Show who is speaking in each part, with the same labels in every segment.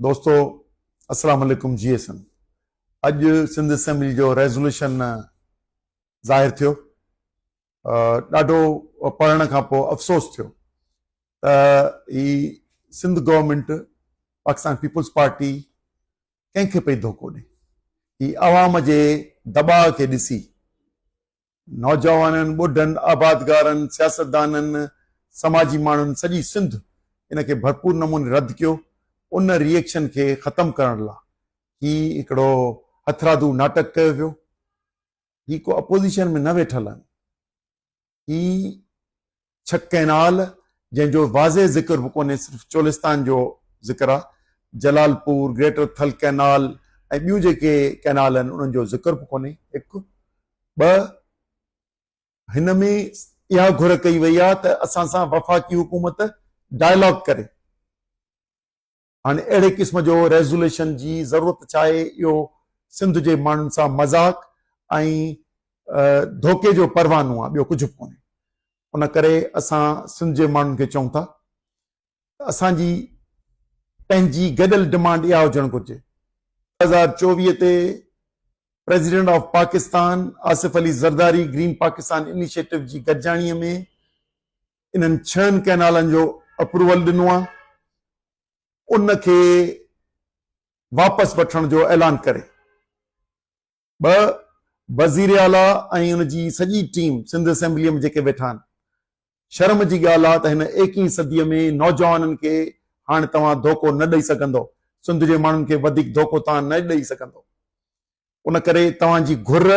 Speaker 1: دوستو السلام عليڪم جي ايسن اڄ سنڌ اسيمبلي جو ريزولوشن ظاهر ٿيو ڏاڍو پڙهڻ کان پوء افسوس ٿيو ته هي Sindh government Pakistan peoples party ڪنهن کي پئي ڌوڪو ڏي هي عوام جي دٻاء کي ڏسي نوجوانن، ٻڍن، آبادگارن، سياستدانن، سماجي ماڻهن سڄي سنڌ ان کي ڀرپور نموني رد ڪيو. ان ري ايڪشن کي ختم ڪرڻ لا هي هڪڙو هٿرادو ناٽڪ ڪيو ويو. هي ڪو اپوزيشن ۾ نه ويٺل آهن. هي ڇڪ ڪئنال جنهن جو واضح ذڪر به ڪونهي صرف چولستان جو ذڪر آهي Jalalpur greater Thal canal ۽ ٻيون جيڪي ڪئنال آهن انهن جو ذڪر به ڪونهي هڪ ٻه هن ۾ اها گهر ڪئي وئي آهي ته اسان سان وفاقي حڪومت ڊائلاگ ڪري هاڻي اهڙي قسم جو ريزوليشن جي ضرورت ڇا آهي اهو سنڌ جي ماڻهن سان مذاق ۽ ڌوڪي جو پروانو آهي ٻيو ڪجهه به ڪونهي ان ڪري اسان سنڌ جي ماڻهن کي چئون ٿا ته اسان جي پنهنجي گڏيل ڊمانڊ اها هجڻ گهرجي ٻه هزار چوويهه تي president of Pakistan Asif Ali Zardari green Pakistan initiative جي گڏجاڻي ۾ انهن ڇهن ڪئنالن جو اپروول ڏنو آهي ان کي واپس وٺڻ جو اعلان ڪري ٻه وزير اعليٰ ۽ ان جي سڄي ٽيم سنڌ اسيمبليء ۾ جيڪي ويٺا آهن شرم جي ڳالهه آهي ته هن ايڪيهين صديء ۾ نوجوانن کي هاڻي توهان ڌوڪو نه ڏئي سگهندو سنڌ جي ماڻهن کي وڌيڪ ڌوڪو توهان نه ڏئي سگهندو ان ڪري توهان جي گهر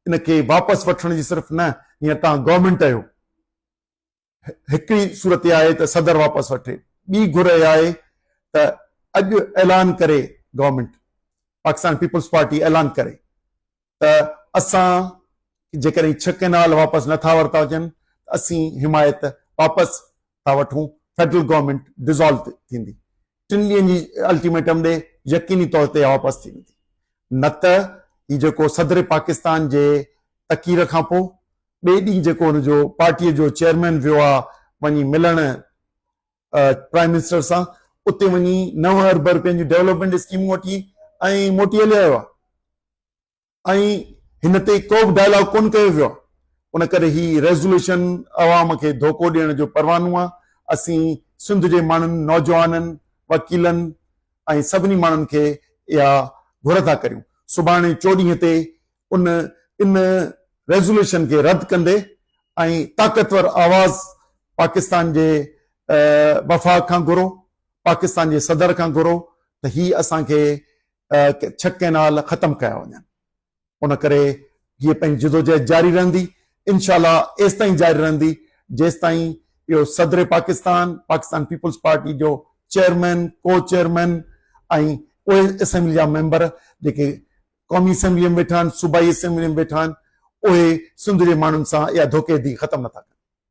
Speaker 1: ان کي واپس وٺڻ جي صرف نه هينئر توهان گورنمينٽ اهيو هڪڙي صورت اها آهي ته صدر واپس وٺي ٻي گهر اها آهي ته اڄ اعلان ڪري گورنمينٽ پاڪستان پيپلز پارٽي اعلان ڪري ته اسان جيڪڏهن ڇهه ڪينال واپس نٿا ورتا هجن اسين حمايت واپس ٿا وٺون فيڊرل گورنمينٽ ڊيزالو ٿيندي ٽن ڏينهن جي الٽيميٽم ڏي يقيني طور تي واپس ٿي ويندي نه ته هي جيڪو صدر پاڪستان جي تقرير کان پوء ٻئي ڏينهن جيڪو هن جو پارٽي جو چيئرمين ويو آ وڃي ملڻ پرائم منسٽر سان اتي وڃي نو ارب رپين جون ڊيولپمينٽ اسڪيمون وٺي ۽ موٽي هلي آيو آ. ۽ هن تي ڪو به ڊائلاگ ڪونه ڪيو ويو آهي ان ڪري هي ريزوليوشن عوام کي ڌوڪو ڏيڻ جو پروانو آهي اسين سنڌ جي ماڻهن نوجوانن وڪيلن ۽ سڀني ماڻهن کي اها گهر ٿا ڪريون سڀاڻي چوڏهينء تي ان ان ريزوليوشن کي رد ڪندي ۽ طاقتور آواز پاڪستان جي وفاق کان گهرو پاڪستان جي صدر کان گهرو ته هي اسان کي ڇهه ڪئنال ختم ڪيا وڃن ان ڪري جيئي پنهنجي جدوجهد جاري رهندي انشاء الله ايستائين جاري رهندي جيستائين اهو صدر پاڪستان پاڪستان پيپلز پارٽي جو چيئرمين ڪو چيئرمين ۽ اهي اسيمبلي جا ميمبر جيڪي قومي اسيمبلي ۾ ويٺا آهن صوبائي اسيمبلي ۾ ويٺا آهن اهي سنڌ جي ماڻهن سان اها ڌوڪي دي ختم نٿا ڪن